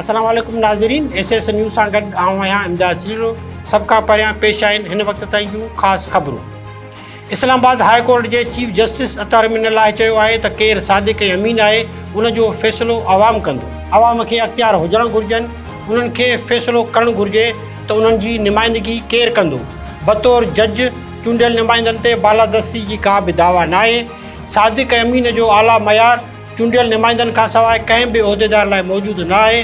اسلام عليڪم ناظرين ايس ايس نيوز سان گڏ آئون آهيان امداد چليلو سڀ کان پهريان پيش آهن هن وقت تائين جون خاص خبرون اسلام آباد هاء ڪورٽ جي chief justice Athar Minallah چيو آهي ته ڪير صادق ۽ امين آهي ان جو فيصلو عوام ڪندو، عوام کي اختيار هجڻ گهرجن، انهن کي فيصلو ڪرڻ گهرجي ته انهن جي نمائندگي ڪير ڪندو، بطور جج چونڊيل نمائندن تي بالادستي جي ڪا به دعويٰ ناهي، صادق ۽ امين جو اعليٰ معيار. چونڊيل نمائندن کانسواء ڪنهن به عهديدار لاء موجود نه آهي،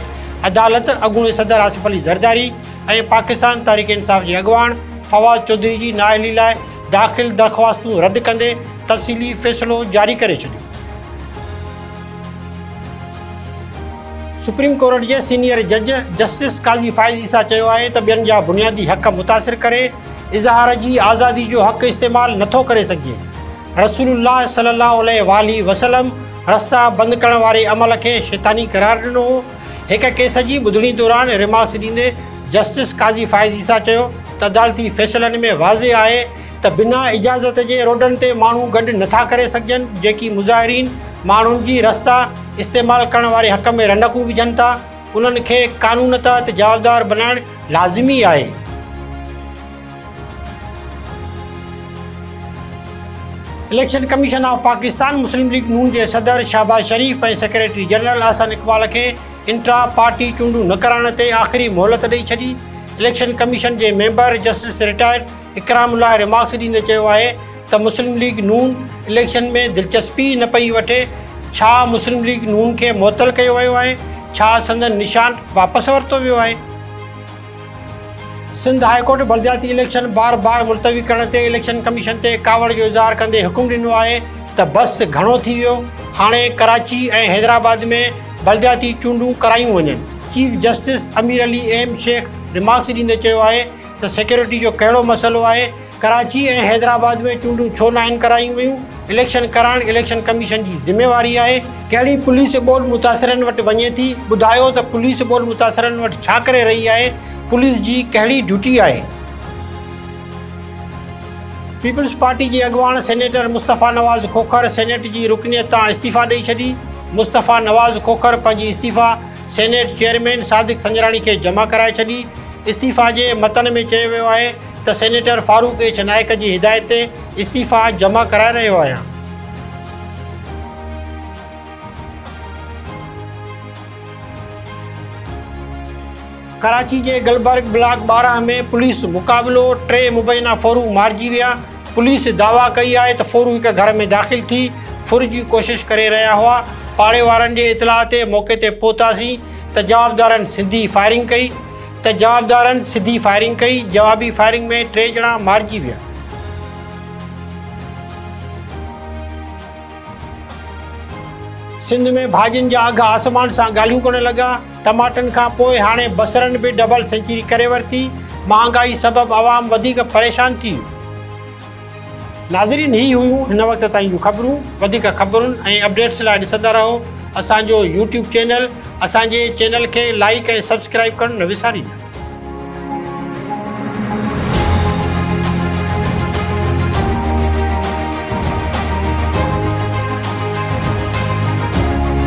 عدالت اڳوڻي صدر آصف علي زرداري ۽ پاڪستان تحريڪ انصاف جي اڳواڻ فواد چوڌري جي نااهلي لاء داخل درخواستون رد ڪندي تفصيلي فيصلو جاري ڪري ڇڏيو. سپريم ڪورٽ جي سينيئر جج جسٽس قاضي فائز عيسيٰ چيو آهي ته ٻين جا بنيادي حق متاثر ڪري اظهار جي آزادي جو حق استعمال نٿو ڪري سگهجي، رسول الله صلي الله عليه واٰله وسلم رستا بند ڪرڻ واري عمل کي شيطاني قرار ڏنو هو. هڪ ڪيس جي ٻڌڻي دوران ريمارڪس ڏيندي جسٽس قاضي فائز عيسيٰ چيو ته عدالتي فيصلن ۾ واضح آهي ته بنا اجازت جي روڊن تي ماڻهو گڏ نٿا ڪري سگهجن جيڪي مظاهرين ماڻهن جي رستا استعمال ڪرڻ واري حق ۾ رنڊڪون وجهن ٿا انهن کي قانون تحت جوابدار بنائڻ لازمي آهي. Election commission of Pakistan Muslim League Noon جي صدر شهباز شريف ۽ سيڪريٽري جنرل احسن اقبال کي انٽرا پارٽي چونڊون نه ڪرائڻ تي آخري مهلت ڏئي ڇڏي. اليڪشن ڪميشن جي member justice retired Ikramullah remarks ڏيندي چيو آهي ته مسلم ليگ نون اليڪشن ۾ دلچسپي ئي نه پئي وٺي، ڇا مسلم ليگ نون کي معطل ڪيو ويو آهي، ڇا سندن نشان واپس ورتو ويو آهي؟ سنڌ هاء ڪورٽ بلدياتي اليڪشن بار بار ملتوي ڪرڻ تي اليڪشن ڪميشن تي ڪاوڙ جو اظهار ڪندي حڪم ڏنو آهي ته بس گهڻو ٿي ويو، هاڻي ڪراچي ۽ حيدرآباد ۾ بلدياتي چونڊون ڪرايون وڃن. Chief justice Amir Ali M Shaikh remarks ڏيندي چيو آهي ته سيڪيورٽي جو ڪهڙو مسئلو آهي؟ ڪراچي ۽ حيدرآباد ۾ چونڊون ڇو ناهن ڪرايون ويون، اليڪشن ڪرائڻ اليڪشن ڪميشن جي ذميواري آهي، ڪهڙي پوليس ٻوڏ متاثرن وٽ وڃي ٿي، ٻڌايو ته پوليس ٻوڏ متاثرن وٽ ڇا ڪري رهي آهي، پوليس جي ڪهڙي ڊيوٽي آهي. پيپلز پارٽي جي اڳواڻ سينيٽر مصطفيٰ نواز کوکر سينيٽ جي رڪنيت تان استعيفيٰ ڏئي ڇڏي، مصطفيٰ نواز کوکر پنهنجي استعيفيٰ سينيٽ چيئرمين صادق سنجراڻي کي جمع ڪرائي ڇڏي، استعيفيٰ جي متن ۾ چيو ويو آهي ته سينيٽر فاروق ايڇ نائيڪ جي هدايت تي استعيفا جمع ڪرائي رهيو آهيان. ڪراچي جي گلبرگ بلاڪ ٻارهن ۾ پوليس مقابلو، ٽي مبينا ڦرو مارجي ويا، پوليس دعويٰ ڪئي آهي ته ڦرو هڪ گهر ۾ داخل ٿي ڦر جي ڪوشش ڪري رهيا هئا، پاڙي وارن جي اطلاع تي موقعي تي پهتاسين ته جوابدارن سڌي فائرنگ ڪئي. ته جوابدارن سڌي فائرنگ ڪئي، جوابي فائرنگ ۾ ٽي ڄڻا مارجي ويا. سنڌ ۾ ڀاڄين جا اگهه آسمان سان ڳالهيون ڪرڻ لڳا، ٽماٽن کان پوء هاڻي بصرن به ڊبل سينچري ڪري ورتي، مهانگائي سبب عوام وڌيڪ پريشان ٿي. ناظرين هي هيون هن وقت تائين جون خبرون وڌيڪ خبرن ۽ اپڊيٽس لاء ڏسندا رهو اسان جو يوٽيوب چينل اسان جي چينل کي لائيڪ ۽ سبسڪرائيب ڪرڻ نه وساريندا.